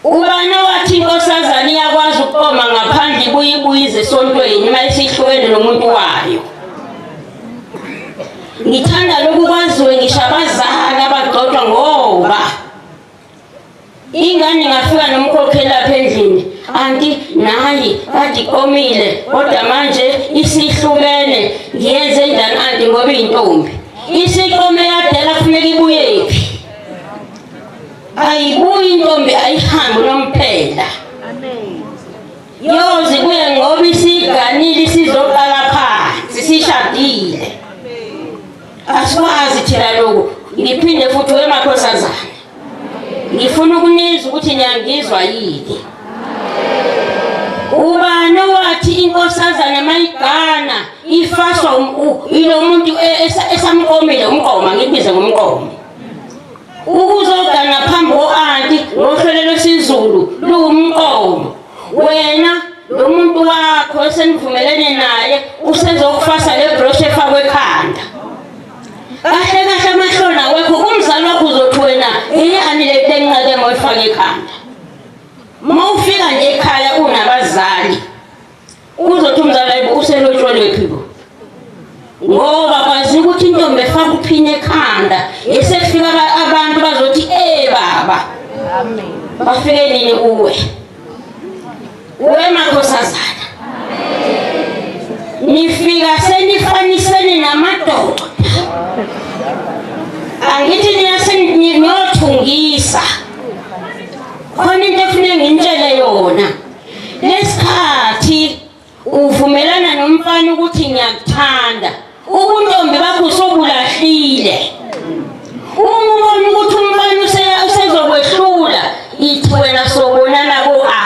ubani owathi inkosazane iyakwazi ukuqoma ngaphandle ibuye ibuyize esontweni uma isihlukene nomuntu wayo ngithanda lokhu kwaziwe ngisho abazali abagxotshwa ngoba ingane ingafika nomkhokheli lapha endlini anti nayi kade iqomile kodwa manje isihlukene ngiyenze njani anti ngoba iyintombi isiqome yadela kufuneka ibuyephi ayibuyi intombi ayihambe unomphela yozi kuye ngoba isiganile isizoqala phansi sishadile asikwazi thina loku ngiphinde futhi wemakhosazana ngifuna ukunizwa ukuthi niyangizwa yini ubani owathi inkosazana mayigana ifaswa um- ilo muntu e- esamqomile umqoma ngibize ngomqoma Ukuzoga ngaphambi ko-anti ngohlwele lwesiZulu luwumqondo. Wena lo muntu wakho esenivumelene naye usezokufasa le brosha efakwe ekhanda. Kahle kahle amahloni awekho kumzali wakho uzothi wena yiyani le nto enginqake ngoyifake ekhanda. Uma ufika nje ekhaya unabazali Uzothi umzali ayibo uselotshwelwephi bo ngoba kwazi ukuthi intombi efaka uphini ekhanda ngesefika abantu bazothi ee baba bafike nini kuwe kuwe makhosazana nifika senifanisene namadoda angithi niyasengiyothungisa khona into efuneka ngintshele yona Ngesikhathi uvumelana nomfana ukuthi ngiyakuthanda, ubuntombi bakho sobulahlile. Uma ubona ukuthi umfana usezokwehlula, ithi wena sobonana ko-a.